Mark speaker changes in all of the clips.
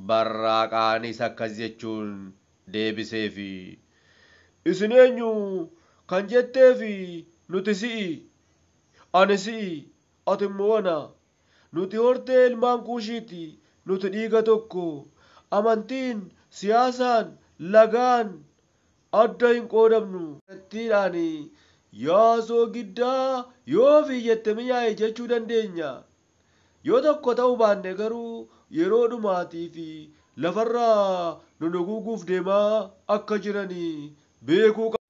Speaker 1: Barraaqaanis akkas jechuun deebiseef, Isin eenyu kan jetteef nuti si'i, ani si'i, ati immoo ana Nuti hortee ilmaan Kuushiiti, nuti dhiiga tokko. Amantiin, siyaasaan, lagaan adda hin qoodamnu. Kallattiidhaan Yaa soogiddaa, yoo ofii jette minyaa'i jechuu dandeenya. Yoo tokko ta'uu baanne garuu yeroo dhumaatiif lafarraa nu duguuguuf deemaa akka jiran beekuu qabna.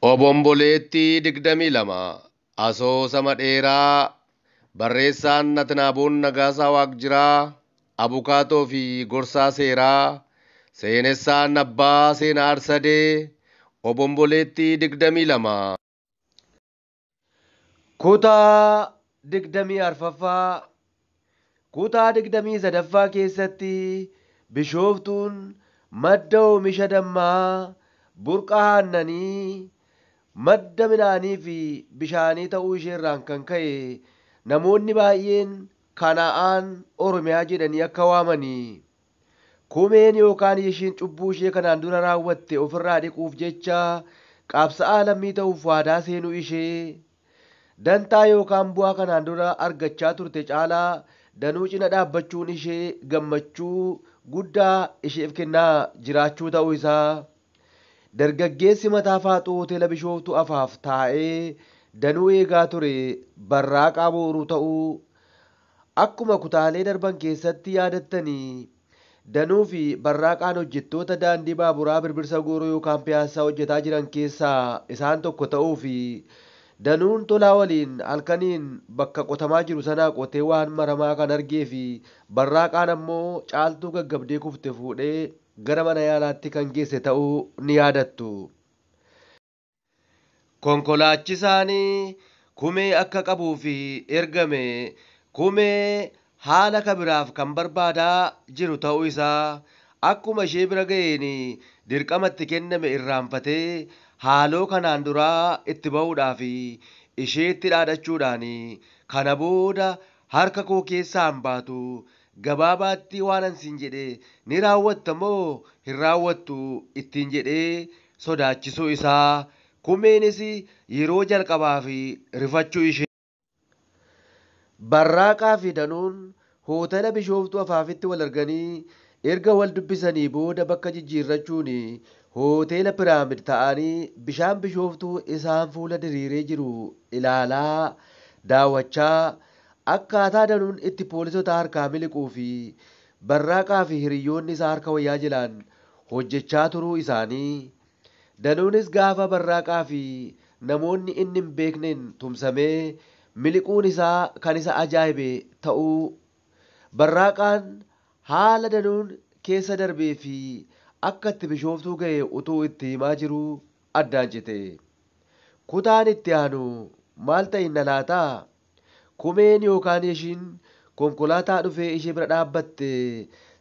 Speaker 1: Obomboleettii 22 Asoosama dheeraa Barreessaan Natnaaboon Nagaasaa Waaqjiraa Abukaatoo fi Gorsaa Seeraa Seenessaan Abbaa Seenaa Arsadee Obomboleettii 22
Speaker 2: Kutaa digdamii arfaffaa Kutaa digdamii sadaffaa keessatti Bishooftuun madda oomisha dammaa, burqa aannanii, madda midhaanii fi bishaanii ta'uu isheerraan kan ka'e namoonni baay'een Kana'aan Oromiyaa jedhanii akka waamani Kumeen yookaan Yishiin cubbuu ishee kanaan dura raawwatte ofirraa dhiquuf jecha qabsa'aa lammii ta'uuf waadaa seenuu ishee, dantaa yookaan bu'aa kanaan dura argachaa turte caalaa danuu cina dhaabbachuun ishee gammachuu guddaa isheef kennaa jiraachuu ta'uu isaa dargaggeessi mataa faaxuu Hoteela Bishooftuu Afaaf taa'ee danuu eegaa ture barraaqaa booruu ta'uu Akkuma kutaalee darban keessatti yaadattani, Danuu fi Barraaqaan hojjettoota Daandii Baaburaa Birbirsa Gooroo yookaan Piyaassaa hojjetaa jiran keessaa isaan tokko ta'uu fi Danuun Tolaa waliin halkaniin bakka qotamaa jiru sanaa qotee waan maramaa kan argee fi Barraaqaan ammoo Caaltuu gaggabdee kufte fuudhee gara mana yaalaatti kan geesse ta'uu ni yaadattu. Konkolaachisaan kumee akka qabuuf ergame kumee haala ka biraaf kan barbaadaa jiru ta'uu isaa akkuma ishee bira ga'een dirqama itti kenname irraanfatee haaloo kanaan duraa itti ba'uudhaaf isheetti dhaadachuudhaan kana booda harka koo keessaa hin baatu gabaabaatti waanan siin jedhe ni raawwatta moo hin raawwattu ittiin jedhee sodaachisuu isaa, Kumeenis yeroo jalqabaaf rifachuu ishee. Barraaqaa fi Danuun hootela Bishooftuu Afaafitti wal arganii erga wal dubbisanii booda bakka jijjiirrachuun hootela Piraamid ta'anii bishaan Bishooftuu isaan fuula diriiree jiru ilaalaa, daawwachaa, akkaataa Danuun itti poolisotaa harkaa miliquu fi Barraaqaa fi hiriyyoonni isaa harka wayyaa jilaan hojjechaa turuu isaanii, Danuunis gaafa Barraaqaa fi namoonni inni hin beekneen tumsamee miliquun isaa kan isa ajaa'ibe ta'uu, Barraaqaan haala Danuun keessa darbee fi akka itti Bishooftuu gahe utuu itti himaa jiruu addaan cite. Kutaan itti aanu maal ta'inna laata? Kumeen yookaan Yeshiin konkolaataa dhufee ishee bira dhaabbatte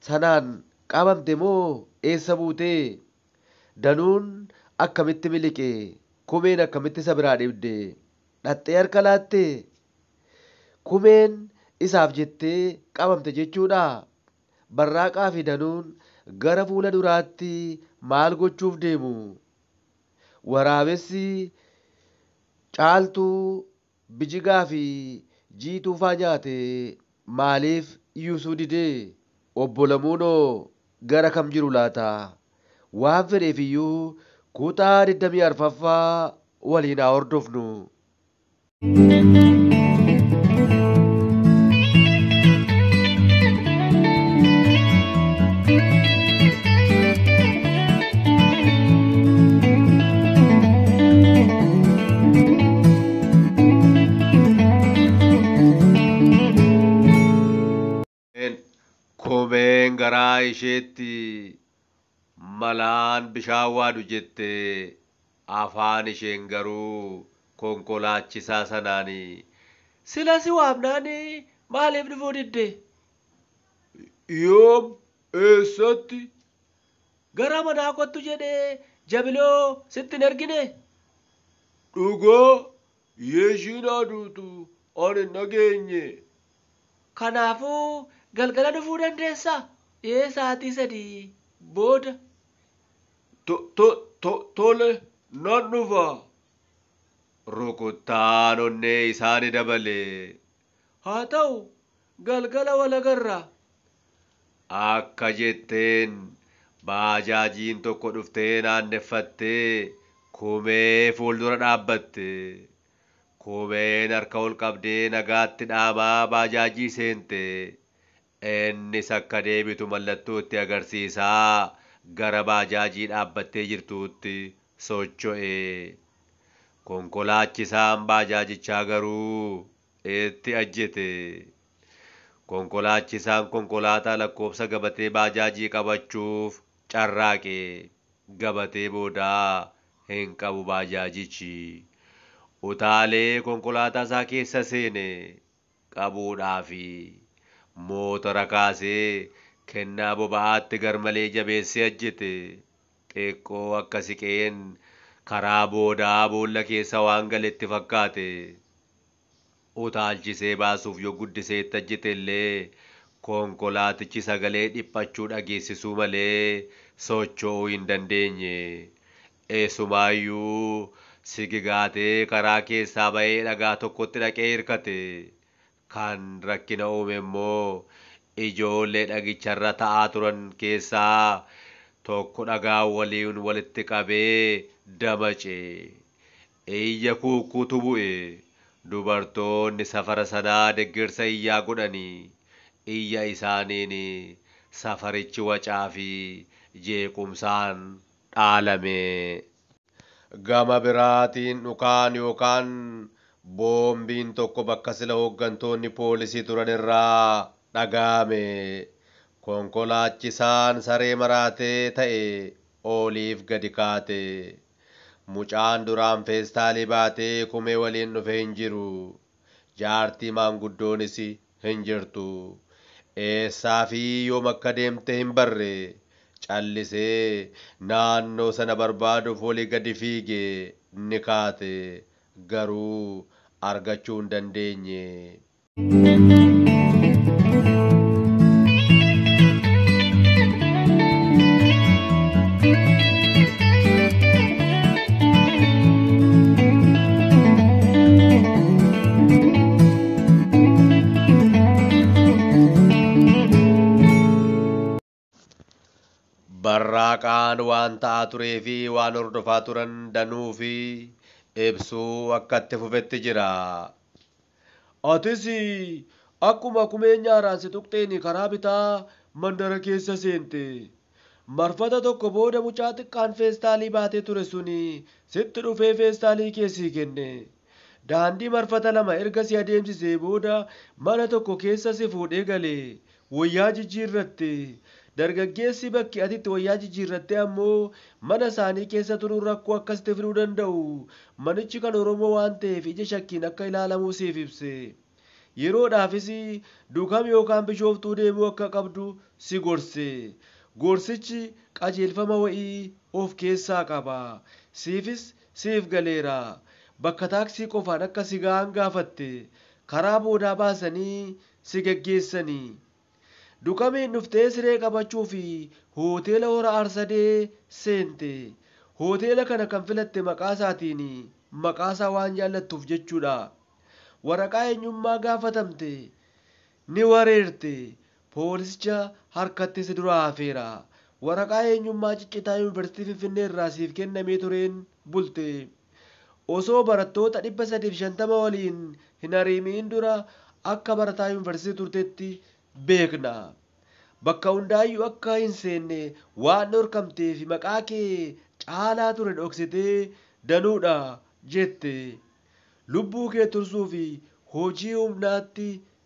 Speaker 2: sanaan qabamte moo eessa buute? Danuun akkamitti miliqe? Kumeen akkamitti isa biraa dhibde? Dhaqxee harka laatte? Kumeen isaaf jettee qabamte jechuudhaa? Barraaqaa fi Danuun gara fuula duraatti maal gochuuf deemu? Waraabessi Caaltuu Bijigaa fi jiituu faa nyaate maaliif yuusuu dide? Obbo Lamuunoo gara kam jiru laata? Waan fedheefiyyuu kutaa 20 arfaffaa waliin haa hordofnu.
Speaker 1: Koomeen garaa isheetti malaan bishaan waadu jette afaan isheen garuu konkolaachisaa sanaan sila si waamnaan maaliif dhufuu didde? Yoom? Eessatti?
Speaker 2: Gara manaa kottu jedhee jabiloo sitti hin erginee?
Speaker 1: Dhugaa yoo ishiin haa duutu ani hin dhageenye. Kanaafuu
Speaker 2: galgala dhufuu dandeessa? Ee sa'aatii sadii booda. To,
Speaker 1: to, to, tole nan dhufa. Rukuttaan onnee isaa ni dabale. Haa
Speaker 2: ta'u, galgala wal agarra.
Speaker 1: Akka jetteen baajaajiin tokko dhuftee naanneffattee Kumee fuuldura dhaabbatte. Kumeen harka ol qabdee nagaatti dhaamaa baajaajii seente. Innis akka deebitu mallattoo itti agarsiisaa gara baajaajii dhaabbattee jirtuutti socho'e. Konkolaachisaan baajaajichaa garuu itti ajjete. Konkolaachisaan konkolaataa lakkoofsa gabatee baajaajii qabachuuf carraaqe. Gabatee boodaa hin qabu baajaajichi. Utaalee konkolaataa isaa keessa seene. qabuudhaa fi mootora kaasee kennaa boba'aatti garmalee jabeessee ajjete. Xiqqoo akka siqeen karaa boodaa boolla keessa waan gale itti fakkaate. Utaalchisee baasuuf yoo guddisee itti ajjete illee konkolaatichi sagalee dhiphachuu dhageessisuu malee socho'uu hin dandeenye. Eessumaayyu sigi gaatee karaa keessaa ba'ee dhagaa tokkotti dhaqee hirkate. Kan rakkina uume immoo ijoollee dhagicharra ta'aa turan keessaa tokko dhagaa waliin walitti qabee damace. Iyya kuukkuutu bu'e. Dubartoonni safara sanaa deggersa iyyaa godhanii iyya isaaniin safarichi wacaafi jeequmsaan dhaalame. Gama biraatiin dhukaan yookaan boombiin tokko bakka sila hoggantoonni poolisii turan irraa dhagaa'ame. Konkolaachisaan saree maraate ta'e ooliif gadi kaate. Mucaan duraan feestaalii baatee kumee waliin dhufe hin jiru. Jaartii maanguddoonis hin jirtu. Eessaa fi yoom akka deemte hin barre. Callisee naannoo sana barbaaduuf olii gadi fiige ni kaate. Garuu argachuu hin dandeenye. Barraaqaan waan ta'aa turee fi waan hordofaa turan danuu fi ibsuu akka itti fufetti jira. Atis akkuma kumee nyaaraan si tuqxeen karaa bitaa mandara keessa seente. Marfata tokko booda mucaa xiqqaan feestaalii baatee ture sun sitti dhufee feestaalii kee sii kenne. Daandii marfata lama erga si adeemsisee booda mana tokko keessa si fuudhee gale. wayyaa jijjiirratte. Dargaggeessi bakki ati itti wayyaa jijjiirratte ammoo mana isaanii keessa turuun rakkoo akka sitti fiduu danda'u manichi kan Oromoo waan ta'eef ija shakkiin akka ilaalamuu siif ibse. Yeroodhaafis Dukam yookaan Bishooftuu deemuu akka qabdu si gorse. Gorsichi qajeelfama wa'ii of keessaa qaba. Siifis siif galeera. Bakka taaksii qofaan akka si ga'aan gaafatte. Karaa boodaa baasanii si geggeessani. Dukamiin dhuftee siree qabachuuf Hoteela Hora Harsadee seente. Hoteela kana kan filatte maqaa isaatiin maqaa isaa waan jaallattuuf jechuudha. Waraqaa eenyummaa gaafatamte. Ni wareerte. Poolisicha harkatti si duraa hafeera. Waraqaa eenyummaa ciccitaa Yuunivarsiitii Finfinnee irraa siif kennamee tureen bulte. osoo barattoota 350 waliin hin hariimi'in dura akka barataa yunivarsiitii turtetti beekna. Bakka hundaayyuu akka hin seenne waan dhorkamteef maqaa kee caalaa ture dhoksitee danuudha jette. Lubbuu kee tursuuf hojii humnaatti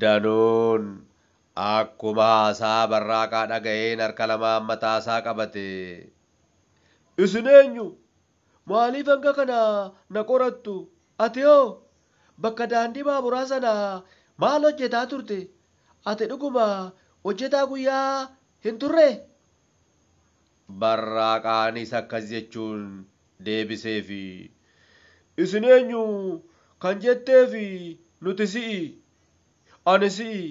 Speaker 2: Danuun akkuma haasaa Barraaqaa dhaga'een harka lamaan mataasaa qabate.
Speaker 1: Isin eenyu? Maaliif hanga kana na qorattu? Ati hoo? Bakka daandii baaburaa sana maal hojjetaa turte? Ati dhuguma hojjetaa guyyaa hin turree?
Speaker 2: Barraaqaanis akkas jechuun deebiseef,
Speaker 1: Isin eenyu kan jetteef nuti si'i, ani si'i,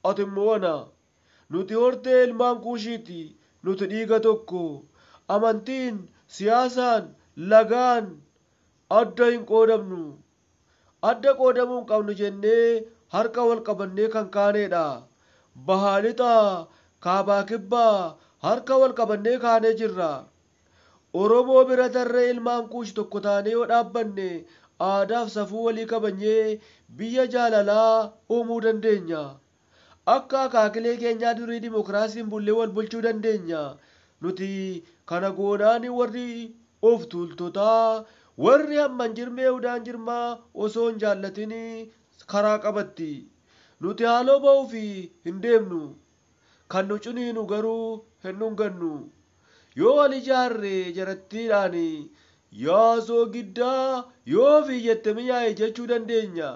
Speaker 1: ati immoo ana. Nuti hortee ilmaan Kuushiiti, nuti dhiiga tokko. Amantiin, siyaasaan, lagaan adda hin qoodamnu. Adda qoodamuu hin qabnu jennee harka wal qabannee kan kaaneedha. Bahaa lixa, kaabaa kibba harka wal qabannee kaanee jirra. Oromoo bira tarree ilmaan Kuush tokko taanee yoo dhaabbanne aadaaf safuu walii kabajnee biyya jaalalaa uumuu dandeenya. Akka akaakilee keenyaa durii dimokiraasiin bullee wal bulchuu dandeenya. Nuti kana goonaan warri of tuultotaa, warri hamman jirmee udaan jirmaa osoo hin jaallatin karaa qabatti. Nuti haaloo ba'uuf hin deemnu. Kan nu ciniinu garuu hin dhungannu. Yoo wal ijaarre jarattiidhaan Yaa soogiddaa yoo ofii jette miyaa'i jechuu dandeenya.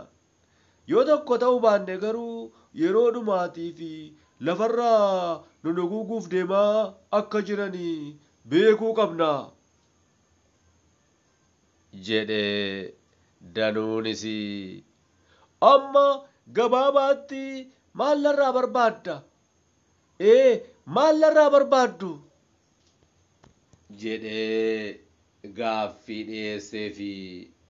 Speaker 1: Yoo tokko ta'uu baanne garuu yeroo dhumaatiif lafarraa nu duguuguuf deemaa akka jiran beekuu qabna.
Speaker 2: jedhe. Danuunis,
Speaker 1: Amma gabaabaatti maal narraa barbaadda? Ee, maal narraa barbaaddu?
Speaker 2: jedhee gaaffii dhiyeesseefi.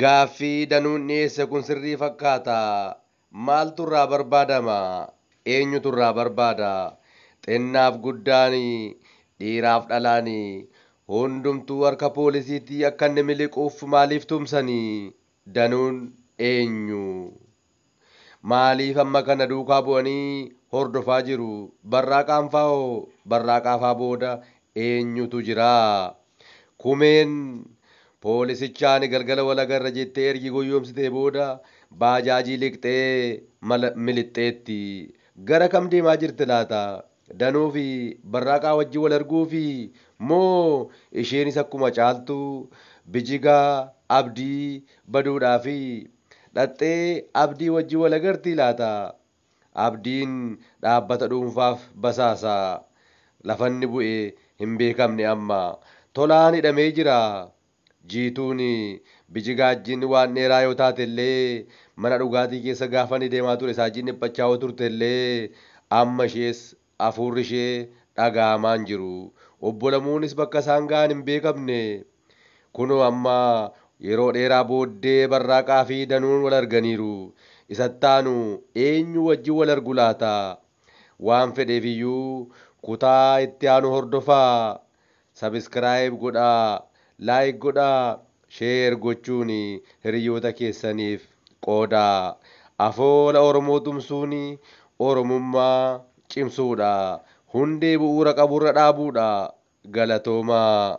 Speaker 2: Gaaffii Danuun dhiyeesse kun sirrii fakkaata? Maaltu irraa barbaadama? Eenyutu irraa barbaada? Xinnaaf guddaan, dhiiraaf dhalaan hundumtuu harka poolisiitii akka inni miliquuf maaliif tumsani? Danuun eenyu? Maaliif amma kana duukaa bu'anii hordofaa jiru? Barraaqaan faa hoo? Barraaqaa faa booda eenyutu jira? Kumeen poolisicha ani galgala wal agarra jettee ergi goyyoomsitee booda baajaajii liqxee mala milixxeetti. Gara kam deemaa jirti laata? Danuu fi Barraaqaa wajjin wal arguufi moo isheenis akkuma Caaltuu, Bijigaa, Abdii, baduudhaafi? Dhaqxee Abdii wajjin wal agartii laata? Abdiin dhaabbata dhuunfaaf basaasa. Lafa inni bu'e hin beekamne amma. Tolaan hidhamee jira. Jiituun bijigaajjiin waan dheeraa yoo taatellee, mana dhugaatii keessa gaafa inni deemaa ture saajjiin dhiphachaa yoo turtellee, amma ishees afuurri ishee dhaga'amaa hin jiru. Obbo Lamuunis bakka isaan ga'an hin beekamne. Kunoo amma yeroo dheeraa booddee Barraaqaa fi Danuun wal arganiiru. Isa itti aanu eenyuu wajjin wal argu laata? Waan fedheef iyyuu kutaa itti aanu hordofaa! Subscribe godhaa Like godhaa Share gochuun hiriyyoota keessaniif qoodaa Afoola Oromoo tumsuun Oromummaa cimsuudha Hundee bu'uura qaburra dhaabuudha Galatoomaa.